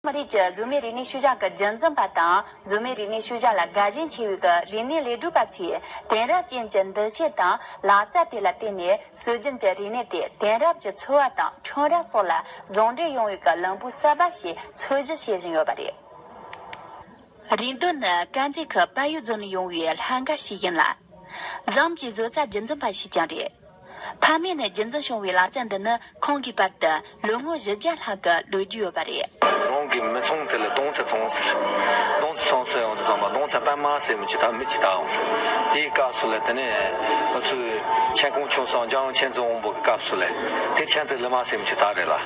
མི་རིགས་ཀྱི་གཟུགས་མེད་རིག་གནས་ཤུལ་བཞག་གི་རྒྱུན་འཛིན་པ་དང་གཟུགས་མེད་རིག་གནས་ཤུལ་བཞག་ལ་དགའ་ཞེན་ཆེ་བའི་གི་རིག་གནས་ལས་སྒྲུབ་པ་ཚོས་དེང་རབས་ཅན་གྱི་འདུ་ཤེས་དང་ལག་རྩལ་དེ་ལ་བརྟེན་ནས་སྲོལ་རྒྱུན་གྱི་རིག་གནས་དེ་དེང་རབས་ཀྱི་འཚོ་བ་དང་ཁྲོམ་ར་སོགས་ལ་ཟུང་འབྲེལ་ཡོང་བའི་གི་ལམ་བུ་གསར་པ་ཞིག་འཚོལ་ཞིབ་བྱེད་བཞིན་ཡོད་པ་རེད། རིང་དུ་ནི་དཀར་མཛེས་ཁུལ་དཔལ་ཡུལ་རྫོང་ནས་ཡོང་བའི་ལྷ་འགའ་ཞིག་ཡིན་ལ། ཟམ་གྱི་བཟོ་རྩལ་རྒྱུན་འཛིན་པ་ཞིག་ཀྱང་རེད། ཕ་མེས་ནས་རྒྱུན་འཛིན་བྱུང་བའི་ལག་རྩལ་འདི་ནི་ཁོང་གིས་པར་དུ་ལོ་ངོ་བཞི་བརྒྱ་ལྷག་གི་ལོ་རྒྱུས་ཡོད་པ་རེད། རང་གི་མི་ཚང་དེ་ལ་སྡོང་ཚ་ཚང་ཟེར། སྡོང་ཚ་ཚང་ཟེར་ཡང་དེ་ཚང་མ་སྡོང་ཚ་པད་མ་ཟེར་མི་ཆོག་ད་མི་ཇི་ལྟ་འམ། དེའི་སྐབས་སུ་ལས་དེ་ནས་ང་ཚོའི་མཆན་ཁུང་ཆུང་སང་ལྗང་མཆན་རྩི་འོང་པོ་གི་སྐབས་སུ་ལས་དེ་མཆན་རྩི་ལི་མ་ཟེར་མི་ཆོག་ད་རེད་ལ།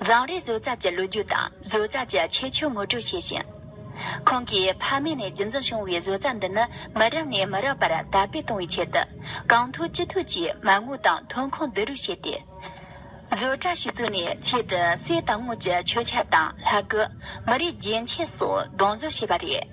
བཟང་རེས་བཟོ་རྩལ་གྱི་ལོ་རྒྱུས་དང་བཟོ་རྩལ་གྱི་ཁྱད་ཆོས་ངོ་སྤྲོད་བྱས་ཤིང། ཁོང་གིས་ཕ་མེས་ནས་རྒྱུན་འཛིན་བྱུང་བའི་བཟོ་རྩལ་འདི་ནི་མི་རབས་ནས་མི་རབས་བར་དར་སྤེལ་གཏོང་བའི་ཆེད་དུ་གང་ཐུབ་ཅི་ཐུབ་ཀྱིས་མ་དངུལ་དང་ཐོན་ཁུངས་བསྡུ་རུབ་བྱས་ཏེ། བཟོ་གྲྭ་ཞིག་བཙུགས་ནས་ཆེད་དུ་གསེར་དང་དངུལ་གྱི་མཆོད་ཆ་དང་ལྷ་སྐུ། མི་རིགས་རྒྱན་ཆས་སོགས་གདོང་བཟོ་བྱས་པ་རེད།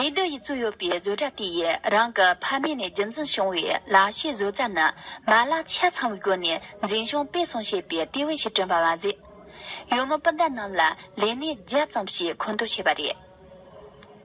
རེ་འདི་ཡིས་བཙུགས་ཡོད་པའི་བཟོ་གྲྭ་དེ་ཡིས་རང་གི་ཕ་མེས་ནས་རྒྱུན་འཛིན་བྱུང་བའི་ལག་ཤེས་བཟོ་རྩལ་ནི་མ་ལག་ཆ་ཚང་བའི་སྒོ་ནས་འཛིན་སྐྱོང་སྤེལ་གསུམ་བྱེད་པའི་ལྟེ་བའི་ཞིང་བསྐྲུན་པ་མ་ཟད། ཡུལ་མི་སྤུན་ཟླ་རྣམས་ལ་ལས་གནས་བརྒྱ་ཙམ་ཞིག་མཁོ་འདོན་བྱས་པ་རེད།